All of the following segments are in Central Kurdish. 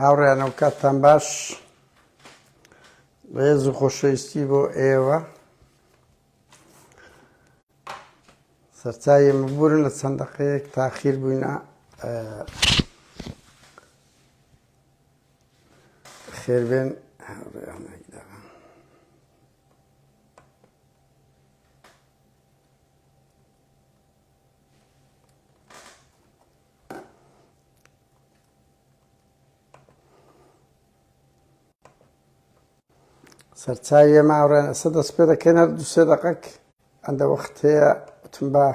هاوڕێیانە و کاتتان باش ڕێز و خۆشەویستی بۆ ئێوە سەرچاوی مبورن لە چەند دەقەیەک تاخیر بووینە خێربێن سەرچاوی ئێمە ئاوڕێن ئەسە دەست پێ دەکەن هەر دو سێ دەقەک ئەندە وەخت هەیە وتم بە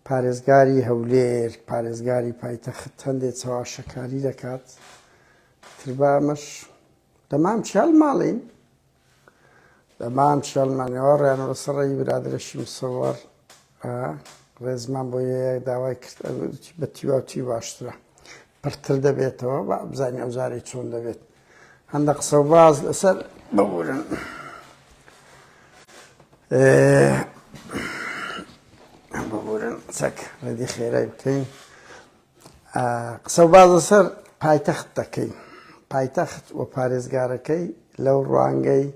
پارێزگاری هەولێر پارێزگاری پایتەخت هەندێک چاواشەکاری دەکات تربامەش دەمام چال ماڵین دەمان چێڵمانەوە ڕێنەوە سەڕی برادرەشی مسەوەڕ ڕێزمان بۆ یەیە داوای کرد بە تیواتی باشترە پڕتر دەبێتەوە بە بزانانی ئەوزاری چۆن دەبێت هەندە قسە باز لەسەر ببورن. ببورن چەک ڕێدی خێرای بکەین. قسەوباس لەسەر پایتەخت دەکەین، پایتەخت و پارێزگارەکەی لەو ڕوانگەی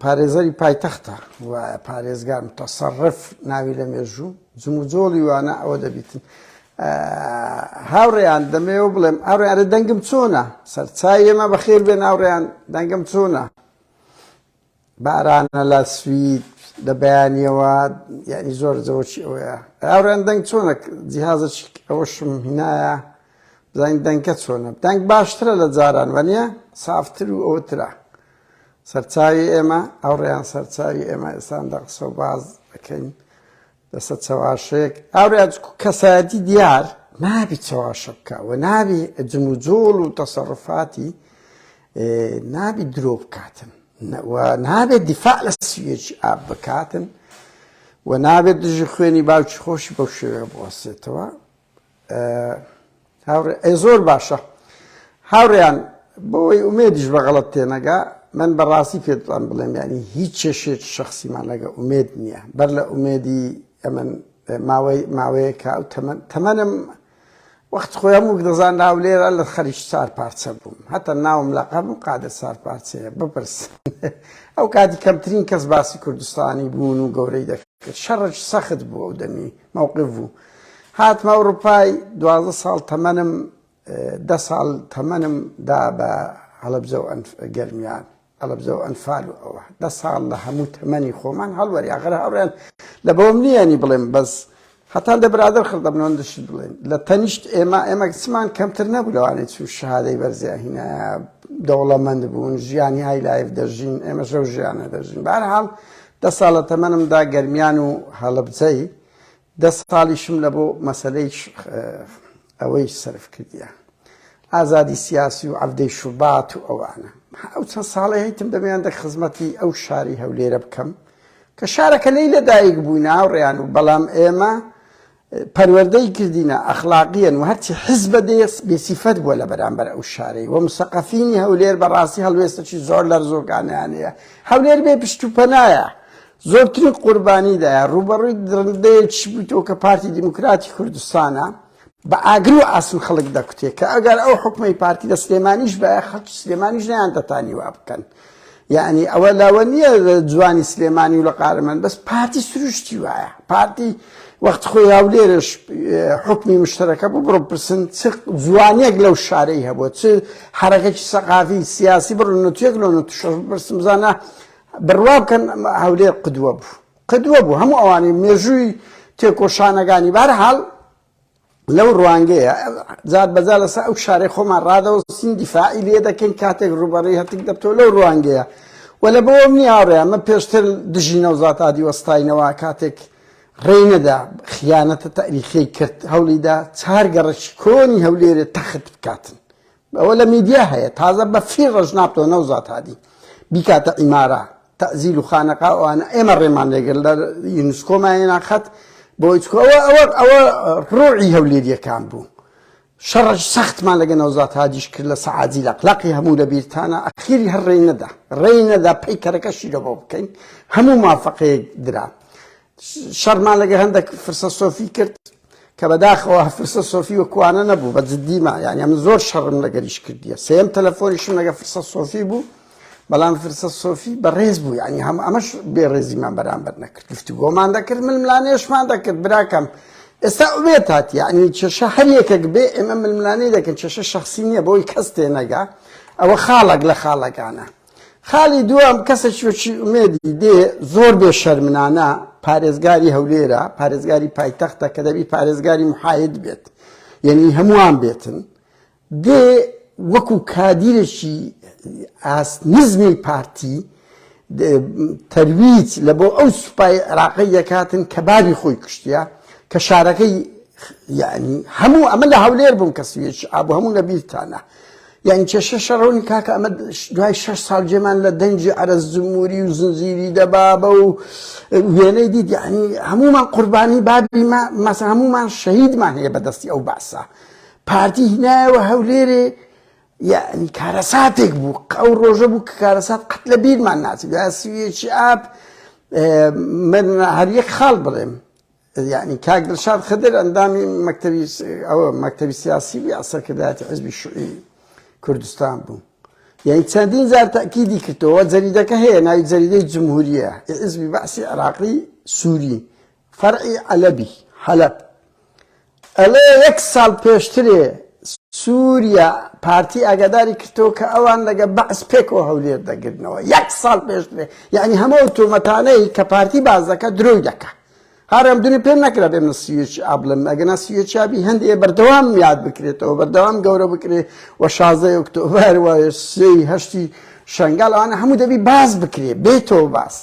پارێزەری پایتەختە و پارێزگار متەسەڕف ناوی لە مێژوو جموجۆڵی وانە ئەوە دەبیتن هاوڕێیان دەمەوە بڵێم ئاڕێنە دەنگم چۆنە سەرچای ئێمە بەخێر بێن ناوڕێیان دەنگم چۆنە بارانە لە سوید لە بەیانیەوە یعنی زۆر زەوەکی ئەوەیە ئاوران دەنگ چۆنە جیهازە ئەوەشم هینایە بزانین دەنگکە چۆنە دەنگ باشترە لە جاران وەنیە سافتر و ئەوترا سەرچاوی ئێمە ئەوڕێیان سەرچاوی ئێمە ئێستان دەقسە و باز دەکەین دەسە چەواشەیەک هاورێ ئەچکو کەسایەتی دیار نابی چەواشە بکە و نابی جم و جۆڵ و تەسەڕفاتی نابی درۆ بکاتن و نابێت دیفاع لە سویەکی ئاب بکاتن و نابێت دژی خوێنی باوکی خۆشی بەو شێوێ بوەسێتەوە هاوڕێ ئەی زۆر باشە هاوڕێیان بۆی ئومێدیش بە غەڵت تێنەگا من بەڕاستی پێتوان بڵێم ینی هیچ چێشێت شخصیمان لەگە ئومێد نییە بەر لە ئومێدی ئەمن ماوەی ماوەیەکە و تەمەن تەمەنم وەخت خۆیان وک دەزان ناو لێرە لە خەریش چار پارچە بووم هەتا ناوم لە قەم و قادر سار پارچەیە بپرس ئەو کاتی کەمترین کەس باسی کوردستانی بوون و گەورەی دەکرد شەڕش سەخت بوو ئەو دەمی مەوقف بوو هاتمە ئەوڕوپای دوازدە ساڵ تەمەنم دە ساڵ تەمەنم دا بە هەڵەبزە و گەرمیان هەڵەبزە و ئەنفال و ئەوە دە ساڵ لە هەموو تەمەنی خۆمان هەڵوەری ئاخر هەڕێن لە بەوم نییەنی بڵێم بەس هەتان دە برادر خردەمنۆن دشت بڵێن لە تەنیشت ئێمە ئێمە سمان کەمتر نەبوو لەوانێت چون شادەی بەرزیاهینە دەوڵەمەند بوون ژیانی های لایف دەژین ئێمە شەو ژیانە دەژین بارحاڵ دە ساڵە تەمەنمدا گەرمیان و هەڵەبزەی دە ساڵیشم لە بۆ مەسەلەی ئەوەی سەرف کردیە ئازادی سیاسی و عەفدەی شوبات و ئەوانە ئەو چەند ساڵی هەیتم دەبیان دە خزمەتی ئەو شاری هەولێرە بکەم کە شارەکە لی لەدایک بووی ناوڕێیان و بەڵام ئێمە پەروەردەی کردینە ئەخلاقیەن و هەرچی حزبە دێس بێسیفەت بووە لە بەرامبەر ئەو شارەی وە مسەقەفینی هەولێر بەڕاستی هەڵوێستەی زۆر لەرزۆکانیانەیە هەولێر بێ پشت و پەنایە زۆرترین قوربانی دایە، ڕووبەڕووی دڕندەیەکیش بوویتەوە کە پارتی دیموکراتی کوردستانە، بە ئاگر و ئاسن خەڵک دەکوتێ، کە ئەگەر ئەو حوکمەی پارتی لە سلێمانیش بایە خەڵکی سلێمانیش نەیاندەتانی وا بکەن، یەعنی ئەوە لەوە نییە جوانی سلێمانی و لە قارەمان، بەس پارتی سروشتی وایە، پارتی وەختی خۆی هەولێرش حوکمی مشتەرەکە بوو، بڕۆ بپرسن چ جوانیەک لەو شارەی هەبووە، چ حەرەکەکی سەقافی سیاسی بڕۆ نەتویەک لەو نەتوشەش بپرسن بزانە بڕوا بکەن هەولێر قدوە بوو قدوە بوو هەموو ئەوانی مێژووی تێکۆشانەکانی بارحاڵ لەو ڕوانگەیە زار بەزار لەسا ئەو شارەی خۆمان ڕادەوە سیندی فعی لێ دەکەین کاتێک ڕوبەڕی هەتک دەبتۆ لەو ڕوانگەیە و لە بۆم نیاڕێ ئەمە پێشتر دژی نەوزات ئادی وەستاینەوە کاتێک ڕێی نەدا خیانەتە تاریخی کرد هەولیدا چارگەڕش کۆنی هەولێرە تەخت بکاتن ئەوە لە میدیا هەیە تازە بە فیر ڕژنابتەوە نەوزات هادی بیکاتە ئیمارە تەزیل و خانەقا ئەوانە ئێمە ڕێمان لێگەر لە یونسکۆمایەنا خەت بۆ ئەوە ئەوە ئەوە ڕۆعی هەولێریەکان بوو شەڕش سەختمان لەگە نەوزات هادیش کرد لە سەعادی لە قلاقی هەموو لە بیرتانە ئەخیری هەر ڕێی نەدا ڕێی نەدا پێی کەرەکە شیرەوە بکەین هەموو مافەقەیەک درا شەڕمان لەگە هەندێک فرسە سۆفی کرد کە بەداخەوە فرسە سۆفی و کوانە نەبوو بە جددیما یانە من زۆر شەڕم لەگەریش کردیە سێم تەلەفۆنیشم لەگە فرسە سۆفی بوو بەڵام فرسە سۆفی بەڕێز بوو ینی هەم ئەمەش بێڕێزیمان بەرامبەر نەکرد گفتی گۆمان دەکرد من ملانێشمان دەکرد براکەم ئێستا ئوێت هاات یعنی چێشە هەر یەکێک بێ ئێمە ململانەی دەکەن چێشە شخصی نییە بۆی کەس تێنەگا ئەوە خاڵک لە خاڵەکانە خاڵی دووەم کەسێکی وەکی ئومێدی دێ زۆر بێ شەرمنانە پارێزگاری هەولێرە پارێزگاری پایتەختە کە دەبی پارێزگاری محاید بێت یعنی هەمووان بێتن دێ وەکو کادیرێکی ئاست نزمی پارتی تەرویج لە بۆ ئەو سوپای عراقی دەکاتن کە باری خۆی کوشتە کە شارەکەی یعنی هەموو ئەمە لە هەولێر بووم کە سوێچ ئابوو هەموو لە بیرتانە یانی کێشەشە ڕوونی کاکە ئەمە دوای شەش ساڵ جێمان لە دەنگی عەرەز جموری و زنجیری دەبابە و وێنەی دیت یعنی هەمومان قوربانی بابی مەسە هەمومان شەهیدمان هەیە بەدەستی ئەو باسە پارتی هینایەوە هەولێرێ یعنی کارەساتێک بوو ئەو ڕۆژە بوو کە کارەسات قەت لە بیرمان ناچێت سویێکی ئاپ من هەر یەک خاڵ بڵێم یەعنی کاک دڵشاد خدر ئەندامی مەکتەبی ئەوە مەکتەبی سیاسی بوو یا سەرکردایەتی حزبی شوعی کوردستان بوو یعنی چەندین جار تاکیدی کردەوە جەریدەکە هەیە ناوی جەریدەی جمهوریە حزبی بەعسی عراقی سووری فەرعی عەلەبی حەلب ئەڵێ یەک ساڵ پێشترێ سوریا پارتی ئاگاداری کردەوە کە ئەوان لەگە بەعس پێکەوە هەولێر دەگرنەوە یەک ساڵ پێشترێ یەعنی هەموو ئەو تۆمەتانەی کە پارتی باس دەکە درۆی دەکە هەر ئەم دونی پێم نەکرا بێ من سوێچ ئابلم ئەگەنا سوێچ ئابی هەندێ بەردەوام یاد بکرێتەوە بەردەوام گەورە بکرێت و شازدە ئۆکتۆبەر و سێی هەشتی شەنگال ئەوانە هەموو دەبی باس بکرێ بێتەوە باس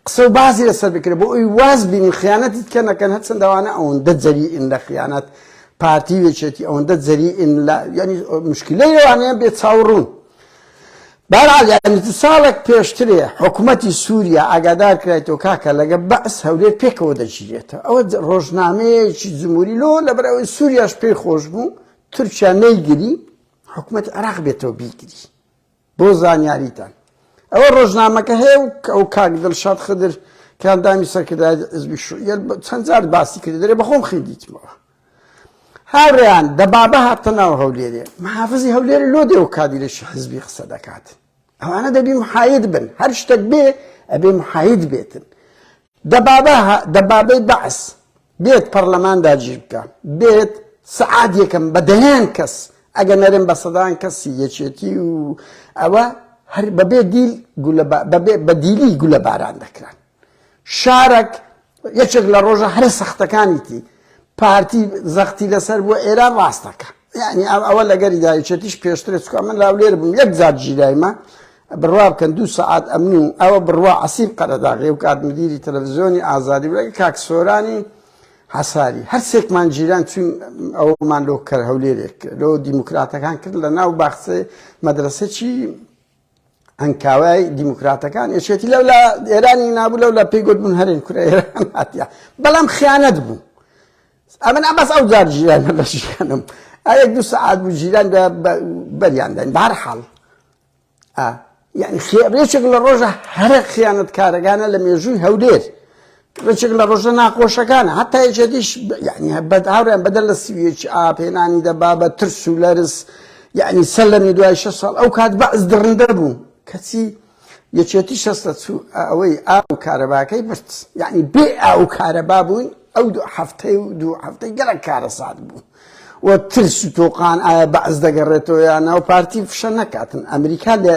قسە و بازی لەسەر بکرێت بۆ ئەوی واز بینین خیانەتیت کە نەکەن هەرچەندە وانە ئەوەندە جەریئن لە خیانەت پارتی وێچێتی ئەوەندە جەریئن لە یعنی مشکلەی لەوانەیە بێ چاوڕوون بەرال یعنی دو ساڵێک پێشترێ حکوومەتی سووریا ئاگادار کرایتەوە کاکە لەگە بەس هەولێر پێکەوە دەگیرێتە ئەوە ڕۆژنامەیەکی جمهوری لۆ لە بەرەوەی سووریاش پێی خۆش بوو تورکیا نەیگری حکوومەت عراق بێتەوە بیگری بۆ زانیاریتان ئەوە ڕۆژنامەکە هەیە و کە ئەو کاک دڵشاد خدر کە ئەندامی سەرکردایەتی حزبی شوعیە چەند جار باسی کرد دەرێ بەخۆم خوێندیتمەوە هاوریان دەبابە هاتە ناو هەولێرێ محافزی هەولێر لۆ دێ و کادیرێکی حزبی قسە دەکات ئەوانە دەبی محاید بن هەر شتێک بێ ئەبێ محاید بێتن دەبابە هە دەبابەی بەعس بێت پەڕلەمان داگیر بکا بێت سەعات یەکەم بە دەیان کەس ئەگە نەرێم بە سەدان کەسی یەکێتی و ئەوە هەر بەبێ دیل گولە با بەبێ بە دیلی گولە باران دەکران شارەک یەکێک لە ڕۆژە هەرە سەختەکانیتی پارتی زەختی لەسەر بوە ئێران ڕاستەکە یعنی ئەم ئەوە لەگەری دایچێتیش پێشترێت چکە من لاولێر بووم یەک زار ژیرایمە بڕوا بکەن دوو سعات ئەمن و ئەوە بڕوا عسیب قەرەداغێ و کات مدیری تەلەڤزیۆنی ئازادی بڵێ کاک سۆرانی حەساری هەرسێکمان جیران چون ئەومان لۆ کەر هەولێرێک لۆ دیموکراتەکان کرد لە ناو باخسێ مەدرسێکی ئەنکاوای دیموکراتەکان یەکێتی لەو لە ئێرانی نابوو لەو لە پێی گوتبوون هەرێن کورە ئێران هاتیە بەڵام خیانەت بوو ئەمن ئەمەس ئەو جار ژیان لە ژیانم ئەیەک دوو سعات بوو ژیران بەریانداین بار حاڵ یعنی خێبرێچێک لە ڕۆژە هەرە خیانەت کارەکانە لە مێژووی هەولێر ڕێچک لە ڕۆژە ناخۆشەکانە هەتای جەدیش یعنی هەبەت هاوریان بەدەر لە سویچ ئاپێنانی دەبا بە ترس و لەرز یعنی سەر لەمی دوای شە ساڵ ئەو کات بەعز دڕندە بوو کەچی یەکێتی شەستە چوو ئەوەی ئاو کارەباکەی برد یعنی بێ ئاو کارەبا بووین ئەو دوو هەفتەی و دوو هەفتەی گەرەک کارەسات بوو و ترس و تۆقان ئایا بەعز دەگەڕێتەوە یانەوە پارتی فشە نەکاتن ئەمریکا لە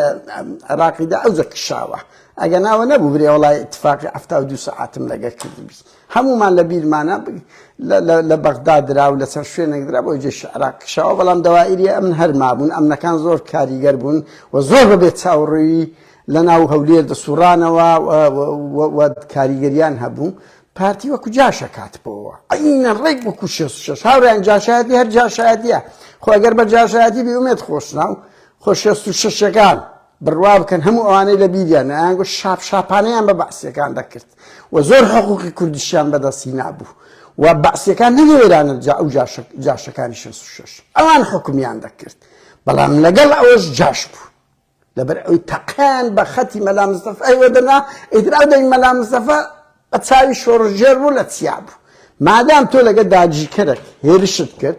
عراقیدا ئەوجە کشاوە ئەگەنا ئەوە نەبوو برێ وەڵای اتفاقی حەفتا و دوو سەعاتم لەگەر کردبی هەموومان لە بیرمانە لە بەغدا درا و لەسەر شوێنێک درا بۆ جێش عراق کشەوە بەڵام دەوائری ئەمن هەرمابوون ئەمنەکان زۆر کاریگەر بوون و زۆر بەبێت چاوڕووی لە ناو هەولێر دەسوڕانەوە کاریگەریان هەبوو پارتی وەکو جاشە کاتبەوە ئەینە ڕێک وەکو شێش هاوریان جاشایەتی هەر جاشایەتە خۆگەر بە جاشایەتی بیومێت خۆشناو خۆ شێست و شەشەکان بڕوا بکەن هەموو ئەوانەی لە بیریان نە ئەیان گوت شاپ شاپانەیان بە بەعسیەکان دەکرد و زۆر حقوقی کوردیشیان بەدەست هینابوو و بەعسیەکان نەهێرانە جا ئەو جاشەکانی 66 ئەوان حکومیان دەکرد بەڵام لەگەڵ ئەوەش جاش بوو لەبەر ئەوی تەقیان بە خەتی مەلا مستەفا ئەیوە دەنا ئیترا دەنگ مەلا مستەفا بە چاوی شۆڕژێر بوو لە چیا بوو مادام تۆ لەگە داگیرکەرێک هێرشت کرد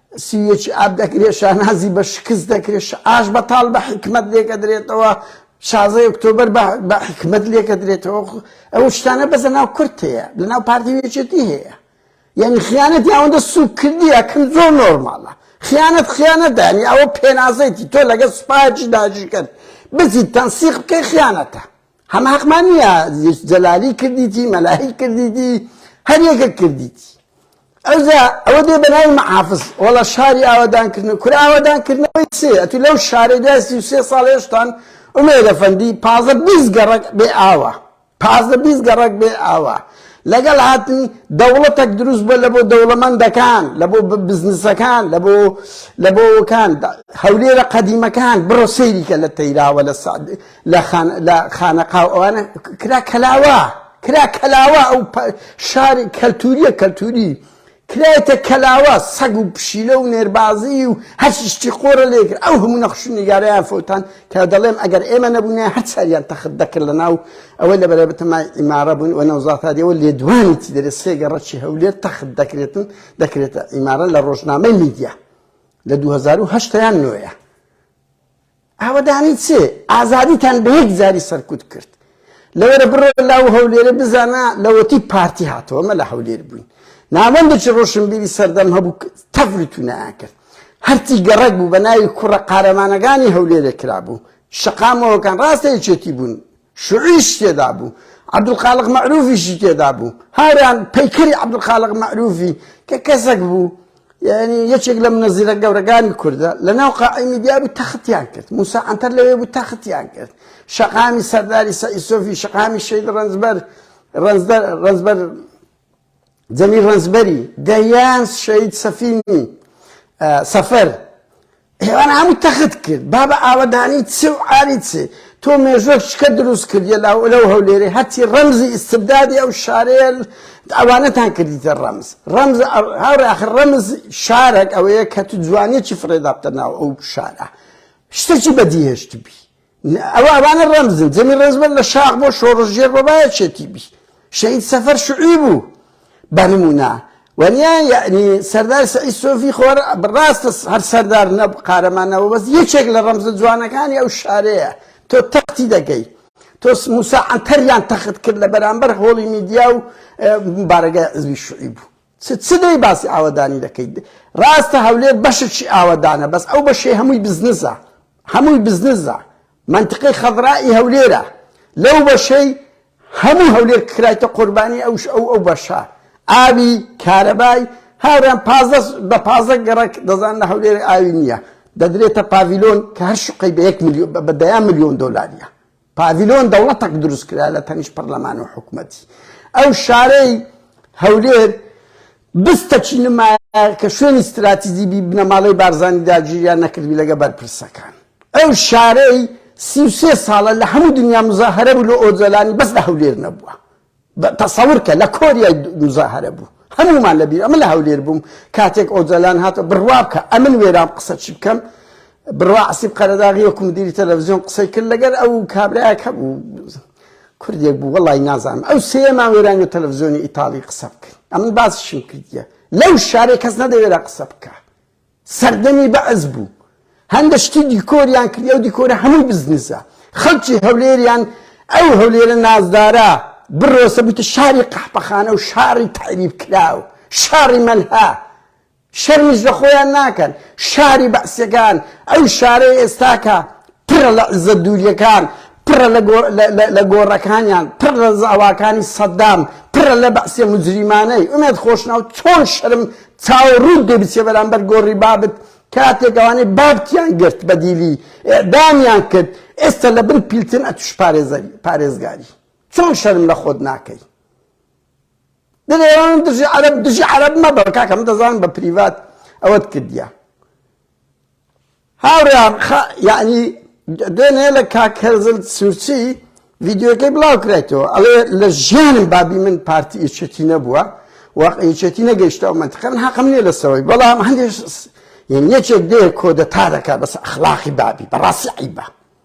سیویەکی ئاب دەکرێت، شانازی بە شکست دەکرێت، شعاش بەتاڵ بە حیکمەت لێکەدرێتەوە، شازدە ئۆکتۆبەر بە حیکمەت لێکەدرێتەوە، ئەو شتانە بەس لە ناو کورد هەیە، لە ناو پارتی و یەکێتی هەیە. یانی خیانەت یاوەندە سوکردیە کن زۆر نۆرماڵە خیانەت خیانەت دانی ئەوە پێنازەیتی تۆ لەگە سوپاچی داژی کرد بزی تەنسیق بکەی خیانەتە هەم حەقمان نییە یوسف جەلالی کردیتی مەلاهی کردیتی هەر یەکێک کردیتی ئەوجا ئەوە دێ بە ناوی محافظ وەڵا شاری ئاوادانکردن کورە ئاوادانکردنەوەی چێ ئەتو لەو شارە دوای سی و سێ ساڵ هێشتان ئومێدە فەندی پازە بیست گەڕەک بێ ئاوە پازە بیست گەڕەک بێ ئاوە لەگەڵ هاتنی دەوڵەتێک دروست بووە لە بۆ دەوڵەمەندەکان لە بۆ بزنسەکان لە بۆ لە بۆکان هەولێرە قەدیمەکان بڕۆ سەیریکە لە تەیراوە لە سعد لە خان لە خانەقاو ئەوانە کرا کەلاوە کرا کەلاوە ئەو شاری کەلتوریە کەلتوری کرایتە کەلاوە سەگ و پشیلە و نێربازی و هەشتی قۆرە لێگر ئەو هەموو نەخش نیگارەیان فوتان کە دەڵێم ئەگەر ئێمە نەبوونە هەر ساریان تەخت دەکرد لە ناو ئەوەی لە بەرەبتەمای ئیمارە بوون و نەوزاتادیەوە لێدوانی تی دەرێت سێگە ڕەچی هەولێر تەخت دەکرێتن دەکرێتە ئیمارە لە ڕۆژنامەی میدیا لە 2010 یان نوێە ئاوەدانی چ؟ ئازادیتان بە یەک جاری سەرکوت کرد. لەوەرە بڕۆ لاو هەولێرێ بزانە لەوەتی پارتی هاتەوە مەلا هەولێر بووین ناوەندێکی ڕۆشنبیری سەردەم هەبوو تەڤلی تونایان کرد هەرچی گەڕەک بوو بە ناوی کوڕە قارەمانەکانی هەولێرێ کرابوو شەقامەوەکان ڕاستە یەکێتی بوون شوعیش تێدا بوو، عەبدولخالق مەعروفیشی تێدا بوو، هاوران پەیکەری عەبدولخالق مەعروفی کە کەسەک بوو یەعنی یەکێک لە منەزیرە گەورەکانی کوردە، لەناو قاعەی میدیا بوو تەختیان کرد، موسا عەنتەر لەوێ بوو تەختیان کرد، شەقامی سەرداری سەعید سۆفی، شەقامی شەید رەنجبەر، رەنجبەر، جەمیل ڕەنجبەری، دەیان شەهید سەفینی سەفەر، ئێوانە هەموو تەخت کرد، بابە ئاوەدانی چ و عاری چ، تۆ مێژووەک شکە دروست کردیە لەو هەولێرەی هەرچی ڕەمزی ئیستبدادی ئەو شارەیە ئەوانەتان کردیتە ڕەمز، ڕەمز هاوڕێ ئاخر ڕەمز شارەک ئەوەیە کە تو جوانیەکی فڕێدابتە ناو ئەو شارە، شتەکی بەدیهێشتبی. ئەوە ئەوانە ڕەمزن جەمی ڕێزبەر لە شاخ بۆ شۆڕشگێر بەبایە چێتی بی شەید سەفەر شعی بوو بە نمونا وەنیا یعنی سەردار سعی سۆفی خۆر ڕاستە هەر سەردار نە قارەمانەوە بەس یەکێک لە ڕەمزە جوانەکانی ئەو شارەیە تۆ تەختی دەکەی تۆ موسا عەنتەریان تەخت کرد لە بەرامبەر هۆڵی میدیا و بارەگای عزوی شعی بوو چ چ دەی باسی ئاوەدانی دەکەیت ڕاستە هەولێر بەشێکی ئاوەدانە بەس ئەو بەشێ هەمووی بزنزە هەمووی بزنزە منتقەی خەضرائی هەولێرە لەو بەشەی هەموو هەولێر کرایتە قوربانی ئەوش ئەو ئەو بەشە ئاوی کارەبای هاوران پازە بە پازە گەڕک دەزان لە هەولێر ئاوی نییە دەدرێتە پاڤیلۆن کە هەر شقەی بە یەک بە دەیان ملیۆن دۆلاریە پاڤیلۆن دەوڵەتەک دروست کرا لە تەنیشت پەرلەمان و حکومەتی. ئەو شارەی، هەولێر، بستەکی نمایە کە شوێنی ستراتیجی بی بنەماڵەی بارزانی داگیریان نەکرد بی لەگە بەرپرسەکان. ئەو شارەی سی و سێ ساڵە لە هەموو دنیا مزاهەرە بوو لۆ ئۆجەلانی بەس لە هەولێر نەبووە. تەسەور کە لە کۆریای موزاهەرە بوو هەموومان لە بیر ئەمە لە هەولێر بووم کاتێک ئۆجەلان هاتە بڕوا بکە ئەمن وێرام قسە چی بکەم بڕوا عسیب قەرەداغی وەکو مدیری تەلەڤزیۆن قسەی کرد لەگەر ئەو کابراەک هەبوو کوردێک بوو وڵی نازانم ئەو سێمان وێرانی و تەلەڤزیۆنی ئیتاڵی قسە بکەن ئەمن باسشم کردیە لەو شارێک کەس نەدەوێرا قسە بکە سەردەمی بەعس بوو هەندە شتی دیکۆریان کردی ئەو دیکۆرە هەمووی بزنسە خەڵکی هەولێریان ئەو هەولێرە نازدارە بڕۆسە بوویتە شاری قەحپەخانە و شاری تەعریب کراو شاری مەلها شەرمیش لە خۆیان ناکەن شاری بەعسەکان ئەو شارەی ئێستاکە پڕە لە عزە دووریەکان پڕە لە گۆڕەکانیان پڕ لە زاواکانی سەددام پڕە لە بەعسێ مجریمانەی ئومێت خۆشناو چۆن شەرم چاووڕووت لێ بچێ بەرامبەر گۆڕی بابت کاتێک ئەوانەی بابتیان گرت بە دیلی ئیعدامیان کرد ئێستا لە بن پیلتن ئەتوش پارێزەری پارێزگاری چۆن شەرم لە خۆت ناکەی دەێوان دژی عرب دژی عرب مەبە کاکەم دەزان بە پریڤات ئەوەت کردیە هاوڕێیان خە یەعنی دێ نێ لە کاک هێزل سورچی ڤیدیۆکەی بڵاو کرایتەوە ئەڵێ لە ژیانم بابی من پارتی یەکێتی نەبووە و یەکێتی نەگەیشتە ئەو مەنتقە من حەقم نییە لە سەوەی بەڵام هەندێک یەکێک دێ کۆدەتا دەکا بەس ئەخلاقی بابی بەڕاستی عەیبە.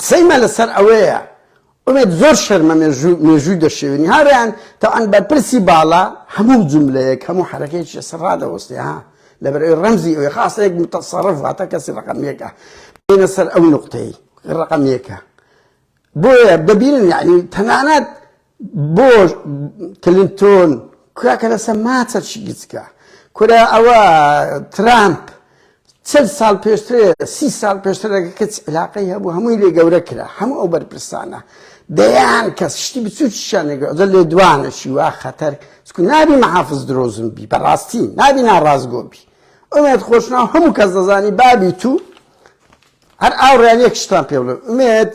قسەی مە لەسەر ئەوەیە ئومێد زۆر شەرمە مێژوو مێژووی دەشێوێنی ها ڕێیان تەوان بەرپرسی باڵا هەموو جوملەیەک هەموو حەرەکەیەکی لەسەر ڕادەوەستێ ها لەبەر ئەوی ڕەمزی ئەوی خاصە یەک متەسەڕف واتە کەسی ڕەقەم یەکە بێنە سەر ئەو نوقتەی ڕەقەم یەکە بۆیە دەبینن یعنی تەنانەت بۆ کلینتۆن کورا کە لەسە ماچە چی گچکە کورا ئەوە ترامپ چەند ساڵ پێشترێ سی ساڵ پێشترەکە کەچ علاقەی هەبوو هەمووی لێ گەورە کرا هەموو ئەو بەرپرسانە دەیان کەس شتی بچووکیشانێک ئەجە لێ دوانەشی وا خەتەر چکو نابی محافز درۆزم بی بەڕاستی نابی ناڕاستگۆ بی ئەمێت خۆشناو هەموو کەس دەزانی بابی تو هەر ئاوڕیان یەک شتان پێڵێ ئومێت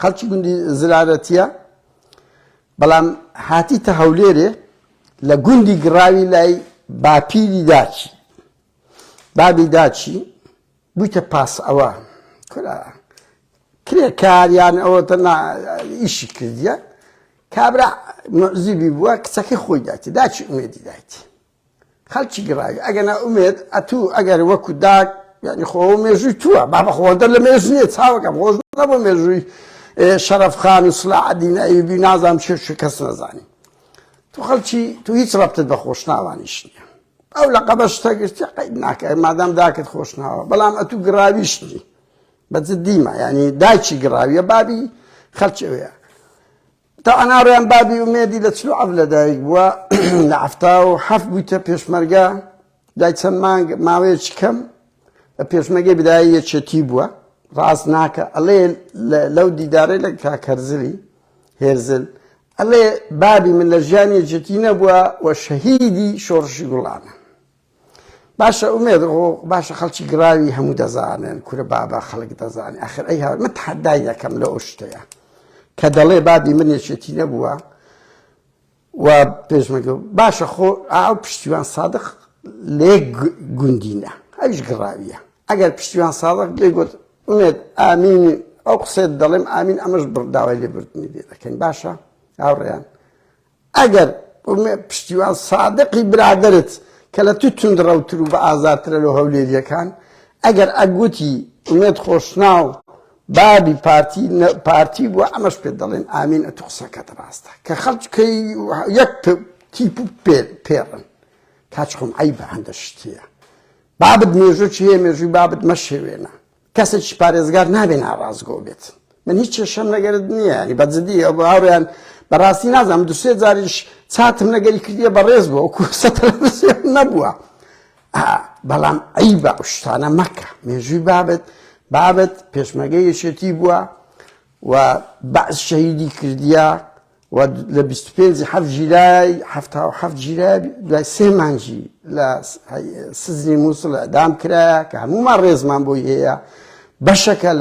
خەڵکی گوندی زرارەتیە بەڵام هاتیتە هەولێرێ لە گوندی گڕاوی لای باپیری داچی بابی داچی بوویتە پاس ئەوە کورا کرێکاریان ئەوە تەنا ئیشی کردیە کابرا مزیبی بووە کچەکەی خۆی داتی داچی ئومێدی دایتی خەڵکی گڕاوی ئەگەنا ئومێد ئەتوو ئەگەر وەکو داک یعنی خۆ مێژووی تووە بابە خۆدە لە مێژ نیە چاوەکەم خۆش نەبوو مێژووی شەرف خان و سلا عدین ئەیوبی نازام شێ شو کەس نەزانی تو خەڵکی تو هیچ ڕەبتت بە خۆشناوانیش نیە ئەو لە قەبە شتە گرتی قەید ناکە مادام داکت خۆشناوە بەڵام ئەتوو گڕاویش نی بە جدیمە ینی داچی گڕاویە بابی خەلچەوەیە تا ناڕێم بابی ئومێدی لە چل و حەفت لەدایک بووە لە حەفتا و حەفت بوویتە پێشمەرگە دوای چەند مانگ ماوەیەکی کەم پێشمەگەی بدایی یەکێتی بووە ڕاست ناکە ئەڵێ لەو دیدارەی لە کاکەرزلی هێرزل ئەڵێ بابی من لە ژیانی جێتی نەبووە و شەهیدی شۆڕشی گوڵانە باشە ئومێد باشە خەڵکی گڕاوی هەموو دەزانن کورە بابا خەڵک دەزانێت ئەخر ئەی هاومە تحدای دەکەم لە ئۆشتەیە کە دەڵێ بابی من یەکێتی نەبووە و پێشمەگە باشە خۆ ئاو پشتیوان سادق لێ گوندینە ئەوش گڕاویە ئەگەر پشتیوان سادق لێ گوت ئومێت ئامینی ئەو قسێت دەڵێم ئامین ئەمەش بڕداوای لێ بردنی لێ دەکەین باشە ئاوڕیان ئەگەر پشتیوان سادقی برادەرت کە لە تو توندڕەوتر و بە ئازارترە لۆ هەولێریەکان ئەگەر ئەگوتی ئومێد خۆشناو بابی پارتی پارتی بوە ئەمەش پێت دەڵێن ئامین ئەتو قسەکەت ڕاستە کە خەڵکی یەک تیپ و پێڕن کاچخۆم عیبە هەندە شتیە بابت مێژوو چیە مێژووی بابت مەشێوێنە کەسێکی پارێزگار نابێ ناڕاستگۆ بێت من هیچ کێشەم لەگەرت نییە ینی بە جدی ئەو هاوڕێیان بەڕاستی نازانم دو سێ جاریش چاتم لەگەری کردیە بەڕێز بووە وەکو سەتر نەبووە بەڵام عیبە ئەو شتانە مەکە مێژووی بابەت بابەت پێشمەگە یەشێتی بووە و بەعس شەهیدی کردیە و لە بیست و پێنج حەفت ژیرای حەفتا و حەفت ژیرای دوای سێ مانجی لە سزنی مووسڵ ئەدام کرایە کە هەمومان ڕێزمان بۆی هەیە بەشەکە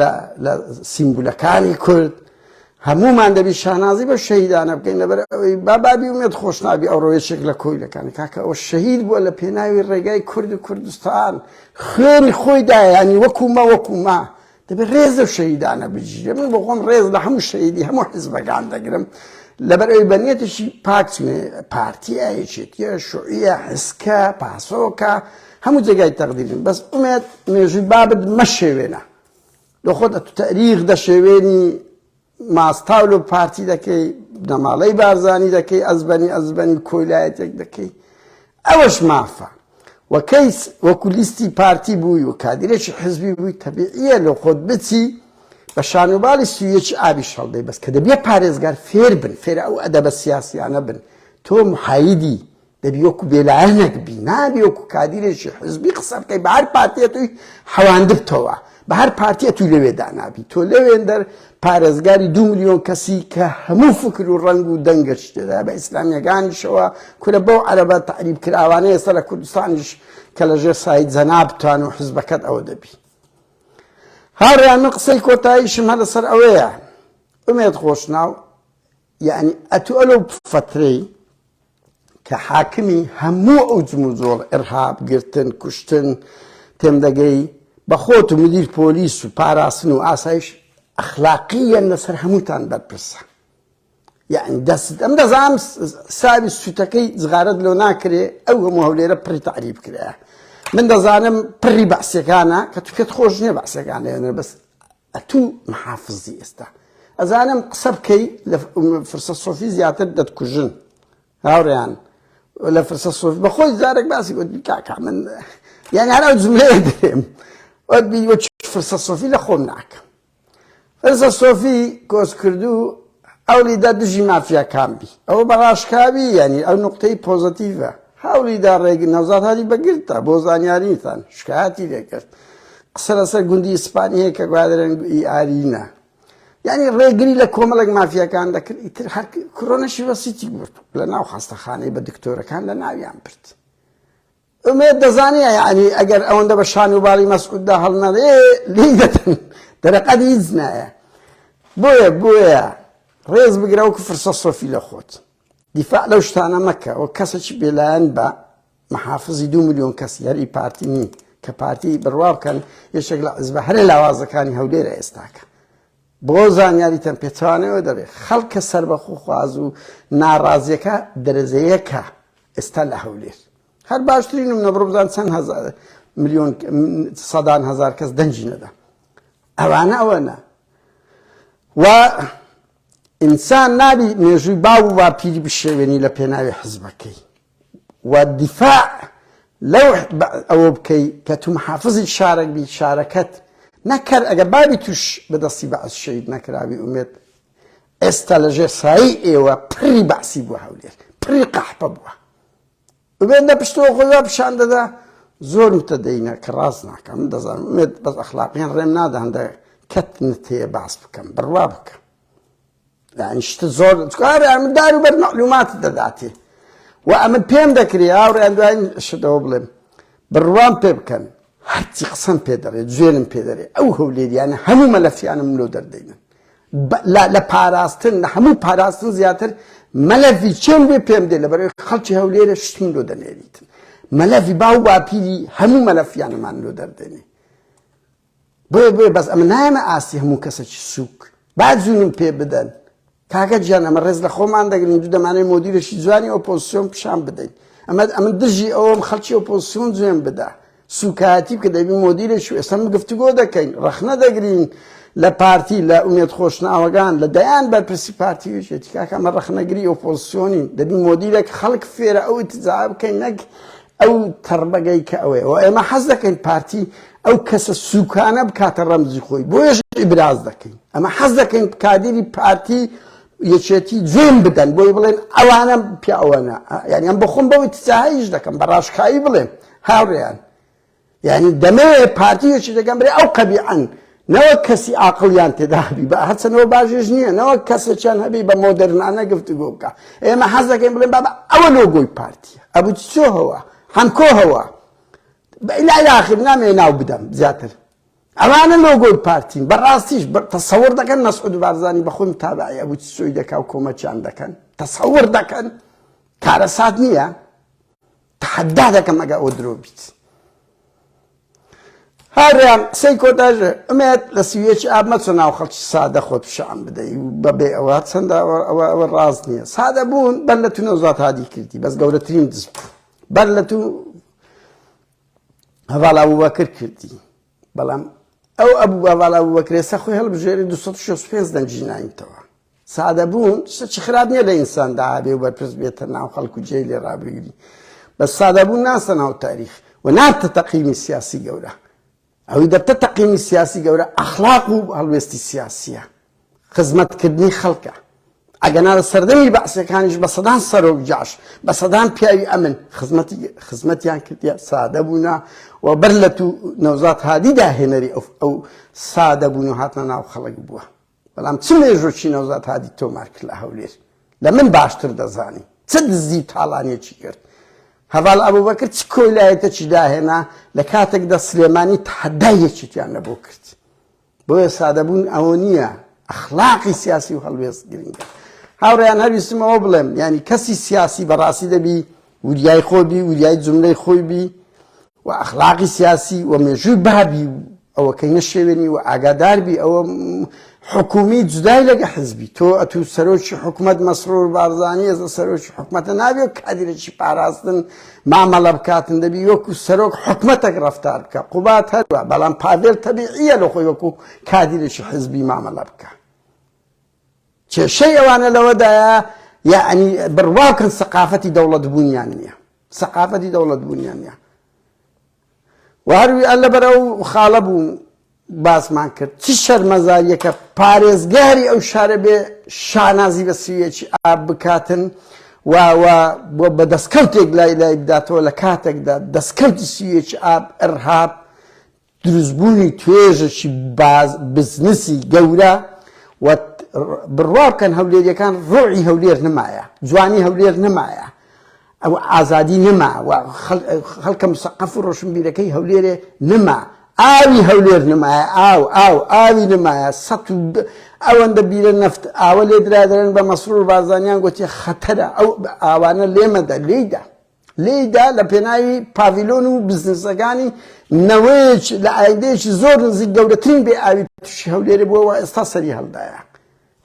لە سیمبولەکانی کورد هەمومان دەبی شانازی بە شەهیدانە بکەین لەبەر ئەوەی بابابی ومێت خۆشنابی ئەو ڕۆێشێک لە کۆیلەکان کاکە ئەو شەهید بووە لە پێناوی ڕێگای کورد و کوردستان خوێنی خۆی دایانی وەکوما وەکوما دەبێت ڕێز لەو شەهیدانە بگیرێت من بۆ خۆم ڕێز لە هەموو شەهیدی هەموو حزبەکان دەگرم لەبەر ئەوی بەنیەتێکی پاک چونێ پارتی ئایەکێتیە شوعیە حسکە پاسۆکە هەموو جێگای تەقدیرن بەس ئومێت مێژووی بابت مەشێوێنە لە خۆت ئەتو تەریخ دەشێوێنی ماستاول و پارتی دەکەی بنەماڵەی بارزانی دەکەی ئەزبەنی ئەزبەنی کۆیلایەتێک دەکەی ئەوەش مافە وەکەیس وەکو لیستی پارتی بووی و کادرێکی حزبی بووی تەبیعە لە خۆت بچی بە شانوباڵی سویەکی ئابی شەڵدەی بەس کە دەبێ پارێزگار فێر بن فێرە ئەو ئەدەبە سیاسیانە بن تۆ محایدی دەبی وەکو بێلایەنەک بی نابی وەکو کادیرێکی حزبی قسە بکەی بە هەر پارتیە توی حەواندبتەوە بە هەر پارتیە توی لەوێ دانابی تۆ لەوێندەر پارێزگاری دو میلیۆن کەسی کە هەموو فکر و ڕنگ و دەنگەش تێدا بە ئیسلامیەکانیشەوە کورە بەو عەرەبە تعریب کراوانە ئێستا لە کوردستانیش کە لە ژێر سایت زەنابتان و حزبەکەت ئەوە دەبی هاڕیان من قسەی کۆتاییشم هە لەسەر ئەوەیە ئومێت خۆشناو یعنی ئەتو ئەلو فترەی کە حاکمی هەموو ئەو جموجۆڵ ئرهاب گرتن کوشتن تێم دەگەی بە خۆت و مدیر پۆلیس و پاراستن و ئاسایش ئەخلاقی یەن لەسەر هەمووتان بەرپرسە یعنی دەست ئەم دەزانم ساوی سوتەکەی زغارت لۆ ناکرێ ئەو هەموو هەولێرە پڕی تعریب کرایە من دەزانم پڕی بەعسەکانە کە تو پێت خۆش نیە بەعسەکانێنە بەس ئەتو محافزی ئێستا ئەزانم قسە بکەی لە فرسە سۆفی زیاتر دەتکوژن هاوڕیان لە فرسە سۆفی بەخۆی زارێک باسی وەت کاکە من یان هەر ئەو جملەیە دێم وەت فرسە سۆفی لە خۆم ناکەم فرسە سۆفی کۆسکردو هەوڵیدا دژی مافیاکان بی ئەوە بە ڕاشکاوی یانی ئەو نوقتەی پۆزەتیڤە هەوڵیدا ڕێگ نەوزاد هادی بە گرتدا بۆ زانیاریتان شکایەتی لێکرد قسە لەسەر گوندی ئیسپانی هەیە کە گوادرێن ئی ئارینە یعنی ڕێگری لە کۆمەڵێک مافیەکان دەکرد ئیتر هەر کۆرۆنەشی وەسیتی برد لە ناو خاستەخانەی بە دکتۆرەکان لە ناویان برد ئومێد دەزانێ یانی ئەگەر ئەوەندە بە شان و باڵی مەسعوددا هەڵنەرێ لێی دەتن دەرەقەت هیچ نایە بۆیە بۆیە ڕێز بگرە وەکو فرسە سۆفی لە خۆت دیفاع لەو شتانە مەکە و کەسێکی بێلایەن بە محافزی دو میلیۆن کەسی هەری پارتی نین کە پارتی بڕوا بکەن یەکێک لە عزبە هەرە لاوازەکانی هەولێرە ئێستاکە بۆ زانیاریتان پێچەوانەوە دەبێت خەڵکە سەربەخۆخواز و ناڕازیەکە دەرەجەیەکە ئێستا لە هەولێر هەر باشترینم نەبڕبزان چەند هزار میلیۆن سەدان هزار کەس دەنجی نەدا ئەوانە ئەوەنە و ئینسان نابی مێژووی باو و واپیری بشێوێنی لە پێناوی حزبەکەی و دیفاع لەو ئەوە بکەی کە تو محافزی شارەک بیت شارەکەت نەک کەر ئەگە بابی توش بە دەستی بەعس شەهید نەکراوی ئومێد ئێستا لە ژێر سایی ئێوە پری بەعسی بوە هەولێر پری قەحپە بوە ئومێد لە پشتەوە خۆی وا پیشان دەدا زۆر متەدەینە کە ڕاست ناکەم دەزانم ئومێد بەس ئەخلاقیان ڕێم نادا هەندە کەت نتەیە باس بکەم بڕوا بکە یعنی شتە زۆر چکارە من دار و بەر مەعلومات دەداتێ و ئەمن پێم دەکرێ هاوڕێیان دوایین شتەوە بڵێم بڕوان پێ بکەن هەرچی قسەم پێ دەڕێت جوێنم پێ دەرێت ئەو هەولێریانە هەموو مەلەفیانم لۆ دەردەینن لە پاراستن لە هەموو پاراستن زیاتر مەلەفی چێن بێ پێم دێ لە بەرەوەی خەڵکی هەولێرە شتم لۆ دەنێریتن مەلەفی باو باپیری هەموو مەلەفیانەمان لۆ دەردێنێ بۆیە بۆیە بەس ئەمە نایەمە ئاستی هەموو کەسێکی سووک با جوونم پێ بدەن کاکە گیان ئەمە ڕێز لە خۆمان دەگرین دوو دەمانەی مۆدیرێکی جوانی ئۆپۆزسیۆن پیشان بدەین ئەمە ئەمن دژی ئەوم خەڵکی ئۆپۆزسیۆن جوێن بدا سوکایەتی کە دەبی مۆدیرێکی ئێستا گفتوگۆ دەکەین ڕەخنە دەگرین لە پارتی لە ئومێت خۆشناوەگان لە دەیان بەرپرسی پارتی وێژێتی کاکە ئەمە ڕەخنەگری ئۆپۆزسیۆنی دەبی مۆدیرێک خەڵک فێرە ئەو تجا بکەین نەک ئەو تەڕبەگەی کە ئەوەیە و ئێمە حەز دەکەین پارتی ئەو کەسە سوکانە بکاتە ڕەمزی خۆی بۆیش ئیبراز دەکەین ئەمە حەز دەکەین کادری پارتی یەکێتی جوێن بدەن بۆی بڵێن ئەوانە پیاوانە یانیان بخۆم بەوەی تجاهیش دەکەم بە ڕاشکایی بڵێم هاوڕێیان یعنی دەمەوێ پارتی یەکی دەگەم برێ ئەو قەبیعەن نەوە کەسی ئاقلیان تێدابی بە هەچەنەوە باژێژ نییە نەوە کەسێکیان هەبی بە مۆدررنانە گفتگۆ بکە ئێمە حەز دەکەین بڵێن بابا ئەوە لۆگۆی پارتیە ئەبوو چۆهەوە هەمکۆهەوە بەلا یاخر نامێ ناو بدەم زیاتر ئەوانە لۆگۆی پارتین بەڕاستیش تەسەور دەکەن مەسعود بارزانانی بەخۆم تابعی ئەبوو سوی دەکا و کۆمەچیان دەکەن تەسەور دەکەن کارەسات نییە تەحەدا دەکەم ئەگە ئەوە درۆ بیت هاریان قسەی کۆتاژێ ئەمێت لە سیویەکی ئاب مەچە ناو خەڵکی سادە خۆت پیشان بدەی و بەبێ ئەوە چەندە ئەوە ئەوە ڕاز نییە سادە بوون بەر لە تو نەوزات هادی کردی بەس گەورەترین دزیت بەر لە تو هەواڵ ئەبوبەکر کردی بەڵام ئەو ئەبوو ئەڤاڵ ئەبوبەکرێ سە خۆی هەڵبژێری 265 دەنگی نایتەوە سادەبوون شتێکی خراپ نییە لە ئینساندا هەبێ و بەرپرس بێتە ناو خەڵک و جێ لێ ڕابگری بە سادەبوون ناسە ناو تاریخ و نارتە تەقیمی سیاسی گەورە ئەوەی دەبتە تەقیمی سیاسی گەورە ئەخلاق و هەڵوێستی سیاسیە خزمەت کردنی خەڵکە ئەگەنا لە سەردەمی بەعسیەکانیش بە سەدان سەرۆک جاش بە سەدان پیاوی ئەمن خزمەتی خزمەتیان کردە سادە بوونا و بەر لە تو نەوزات هادی داهێنەری ئەو ئەو سادە بوون و هاتنە ناو خەڵک بووە بەڵام چ مێژۆکی نەوزات هادی تۆمار کرد لە هەولێر لە من باشتر دەزانی چ دزی و تاڵانێکی کرد هەواڵ ئەبوو بەکرد چ کۆیلایەتەکی داهێنا لە کاتێکدا سلێمانی تحدایەکیان نەبوو کرد بۆیە سادەبوون ئەوە نییە ئەخلاقی سیاسی و هەڵوێست گرنگە هاوڕیان هەویستم ئەوە بڵێم ینی کەسی سیاسی بەڕاستی دەبی وریای خۆ بی وریای جملەی خۆی بی و ئەخلاقی سیاسی و مێژووی بابی و ئەوەکەی نەشێوێنی و ئاگاداربی ئەوە حکومی جدای لەگە حزبی تۆ ئەتو سەرۆکی حکوومەت مەسرور بارزانانی ئێزە سەرۆکی حکوومەتە نابێت کادرێکی پاراستن مامەڵە بکاتن دەبی وەکو سەرۆک حکومەتەک ڕفتار بکە قوبات هەروە بەڵام پاڤێل تەبیعیە لە خۆی وەکو کادیرێکی حزبی مامەڵە بکە کێشەی ئەوانە لەوەدایە یعنی بڕواکەن سەقافەتی دەوڵەت بوونیان نییە سەقافەتی دەوڵەت بوونیان نیە و هەر وی اللە بەر ئەو خاڵە بوو باسمان کرد چ شەرمەزاریەکە پارێزگاری ئەو شارە بێ شانازی بە سویەکی ئاب بکاتن و و بۆ بە دەستکەوتێک لای لای بداتەوە لە کاتێکدا دەستکەوتی سویەکی ئاب ئەرهاب دروستبوونی توێژەکی باز بزنسی گەورە و بڕوا بکەن هەولێریەکان ڕۆعی هەولێر نمایە جوانی هەولێر نمایە ئەو ئازادی نەما و خەڵکە مسەقەف و ڕۆشنبیرەکەی هەولێرێ نەما ئاوی هەولێر نمایە ئاو ئاو ئاوی نمایە سە ئەوەندە بیرە نەفت ئاوە لێ درادرن بە مەسرور بازانیان گوتی خەتەرە ئەو ئاوانە لێمەدە لێیدا لێیدا لە پێناوی پاڤیلۆن و بزنسەکانی نەوەیەکی لە ئایدەیەکی زۆر نزیک گەورەترین بێ ئاوی تووشی هەولێرە بووەوە ئێستا سەری هەڵدایە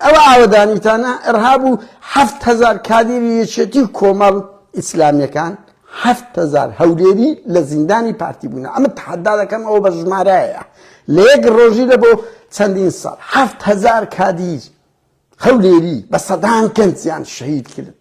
ئەوە ئاوەدانیتانە ئەرهاب و حەفت هەزار کادیری یەکێتی کۆمەڵ ئیسلامیەکان حەفت هەزار هەولێری لە زیندانی پارتی بوونە ئەمە تحدا دەکەم ئەوە بە ژمارایە لە یەک ڕۆژی لە بۆ چەندین ساڵ حەفت هەزار کادیر هەولێری بە سەدان کەنجیان شەهید کرد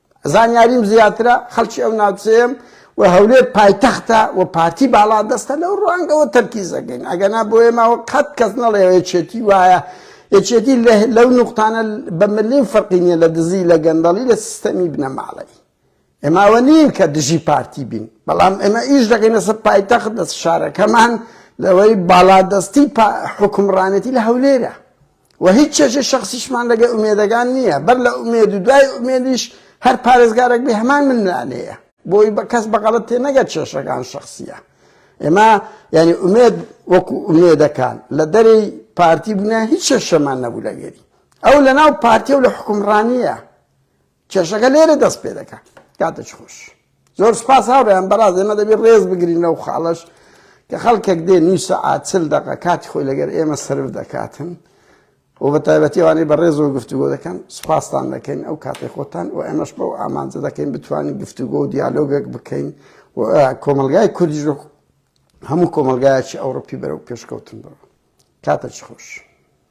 زانیاریم زیاترە، خەڵکی ئەو ناوچەیەم و هەولێر پایتەختە و پارتی باڵادەستە، لەو ڕوانگەوە تەرکیز ئەکەین، ئەگەنا بۆ ئێمەوە قەت کەس نەڵێ یەکێتی وایە، یەکێتی لەو نوقتانە بە ملیم فەرقی نییە لە دزی، لە گەندەڵی، لە سیستەمی بنەماڵەیی. ئێمە ئەوە نین کە دژی پارتی بین، بەڵام ئێمە ئیش دەکەین لەسەر پایتەخت، لەسەر شارەکەمان، لەوەی باڵادەستی حوکمڕانێتی لە هەولێرە. وە هیچ چێژی شەخسیشمان لەگەل ئومێدەگان نیە بەر لە ئومێد و دوای ئومێدیش هەر پارێزگارەک بێ هەمان ململانێیە بۆی کەس بە غەڵەت تێ نەگە چێشەکان شەخسیە ئێمە یعنی ئومێد وەکو ئومێدەکان لە دەرەی پارتی بوونە هیچ چێشەمان نەبوو لەگەری ئەو لەناو پارتی و لە حکومڕانیە کێشەکە لێرە دەست پێ دەکا کاتێک خۆش زۆر سپاس هاوڕێیان بەڕاز ئێمە دەبێت ڕێز بگرین لەو خاڵش کە خەڵکێک دێ نوی سەعات چل دەقە کاتی خۆی لەگەر ئێمە سرف دەکاتن و بە تایبەتیوانەی بە ڕێز و گفتوگۆ دەکەن سپاستان دەکەین ئەو کاتی خۆتان و ئێمەش بەو ئامانجە دەکەین بتوانین گفتوگۆ و دیالۆگەک بکەین و کۆمەلگای کوردیش هەموو کۆمەلگایەکی ئەوروپی بەرەو پێشکەوتن بڕ کاتە چ خۆش.